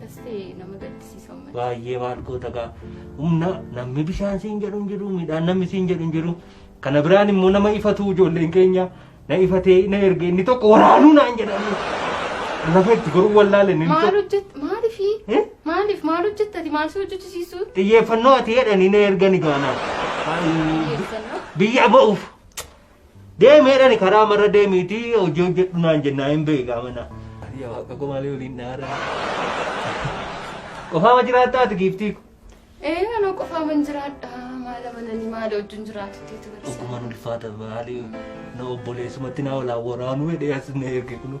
Dastee nama gaddisiisa uummata. Baay'ee maal goota gaa humna namni bishaan siin jedhu hin jiru midhaan namni siin jedhu hin jiru kana biraan immoo nama ifatu ijoolleen keenya na ifatee na erge inni tokko waraanuu naan jedhanii lafa itti goruu wallaale inni Maal tokko hojjett maaliif Eh? maaliif maal hojjettati maal si hojjechisiisu? xiyyeeffannoo ati jedhanii na ergani gaanaa Xiyyeeffannoo. biyya ba'uuf Deemi jedhani karaa marra deemiiti hojii hojjedhu naan jennaa hin beeyi gaa manaa. Ani yaa waaqa koo maalee waliin naara. Qofaama jiraattaa ati giiftii ko. Ee anoo qofaaman jiraadha maala mananii maala wajjin jiraatuteetu barsiisa. Dhugumaan ulfaata maalee na obboleessumatti naa walaa waraanuu jedhee as na erge kunuu.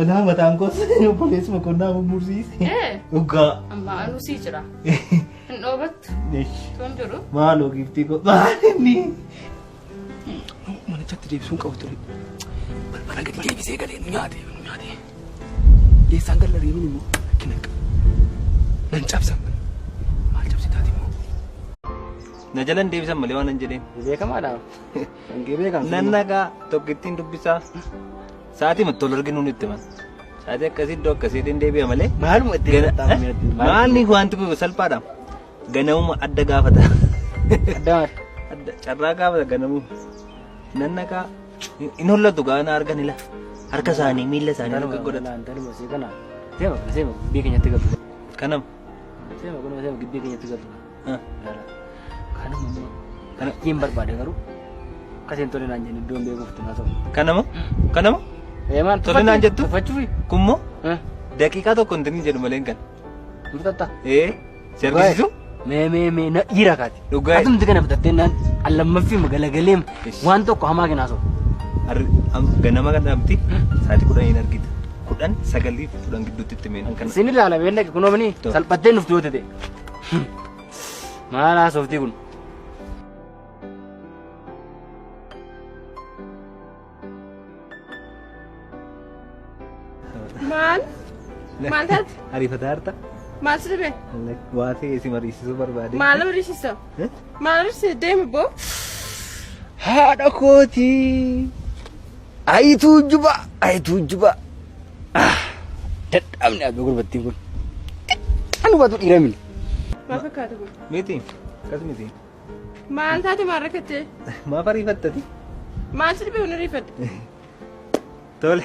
Olaa mataan koos obboleessi boqonnaa mummursise. Ee, Dhugaa. amma anuu sii jira. Hin dhoobattu. Eesh. Tun jiru. Maaloo giiftii koo maalinni. Manichatti deebisuun qabu ture. Balbala gadi deebisee galee nu nyaate nu nyaate. Eessaan galla reebiin immoo rakkina qaba. Nan cabsa. Maal cabsitaa immoo? Na jalan deebisan malee waan hin jedheen. Beekamaadha. Hangee beekamtu. Nan nagaa tokkittiin dubbisaa. Sa'aatii matti wal arginu nutti himan. Sa'aatii akkasii iddoo akkasiitiin deebi'a malee. Maaluma itti Gana- himatamu eh? irratti maal- Maalni wanti kun salphaadha. Ganamuma adda gaafata. Adda maal? Adda carraa gaafata ganamuma. Nan naqaa. Hin hollatu gaana argan ila. Harka isaanii miila isaanii Kanuma akka godhatu. kanaan kanuma see kana. Seema kana seema gibbii keenyatti galtu. Kanam. Seema kanuma seema gibbii keenyatti galtu. Kana hin barbaade garuu akkasiin tole naan jennu iddoon beekuuftu na ta'u. Kanama? Kanama? Eemaan Tole naan jettu? Tuffachuufi? Kummoo? Daqiiqaa tokko hin tinin jedhu malee kan. Murtatta? Ee? Si argisiisu? Mee mee mee na dhiira kaati. Dhugaa. Atumti kana fudhattee naan allammaffii magalagalee Ish. waan tokko hamaa kenaa soba. Harri am- ganama kan dhaabdi sa'aatii kudhan hin argita. Kudhan sagalii fi kudhan gidduutti itti meen kan. Sin ilaala beellake kunoo mini Tole. salphattee nufti yoo ta'e. Maal haasoftii kun? Maal? Maal taate? Ariifataa harta? Maal si dhibe? Waa ta'e si mariisisuu barbaade. Maal horisiisa? Maal horisiisa? Deemi boo. Haadha kootii. Ayi tuujjubaa ayi tuujjubaa ah dadhaabne abbe gurbattiin kun kan hubatu dhiira mini. Maaf fakkaata kun? Miti. Akkas miti. Maal taate maal rakkattee? Maaf ariifattati? Maal si dhibee kun ariifatte? Tole.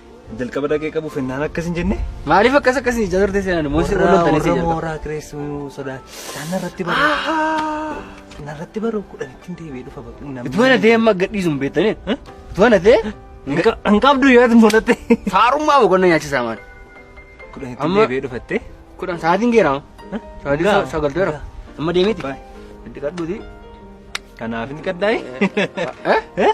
Jalqaba dhaqee qabu fennaan akkas hin jenne. Maaliif akkas akkas hin jadarte seenaan immoo si Warra waltan si warra jalqaba. mooraa kireessuu sodaa. Isaan narratti baru. Narratti baru kudhanittiin deebi'ee dhufa bakka namni. Utuu ana ta'e amma gadhiisu hin beektanii? Utuu ana ta'e Hin qabdu yaadu mul'atte. faarummaa boqonnaa nyaachisaa maal? Kudhanittiin Amma- deebi'ee dhufatte. Kudhan sa'aatiin geeramu. Sa'aatiin Gaa. sagal ta'eera. Amma deemiti. Baay. Itti kadhuuti. Kanaaf inni qaddaa'e. Eh? Eh?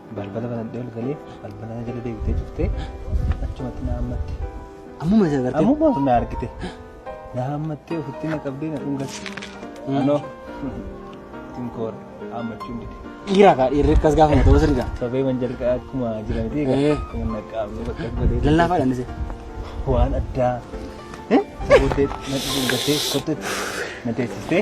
Balbala banadhee ol galee balbala na jala deebitee cuftee achumatti na hammatte. Ammuma isa agartee. Ammuma of na argite. Na hammattee ofitti na qabdee na dhungatte. Anoo tinkoora hammachuun dide. Dhiiraa kaa dhiirri akkas gaafa mata osoo dhiiraa. Sobee man jalqaa akkuma jiran ta'e Eh. akkuma na qaamne bakka godhee. Lallaafaa dhandise. Waan addaa. Sabootee na dhungattee kottetti na teessistee.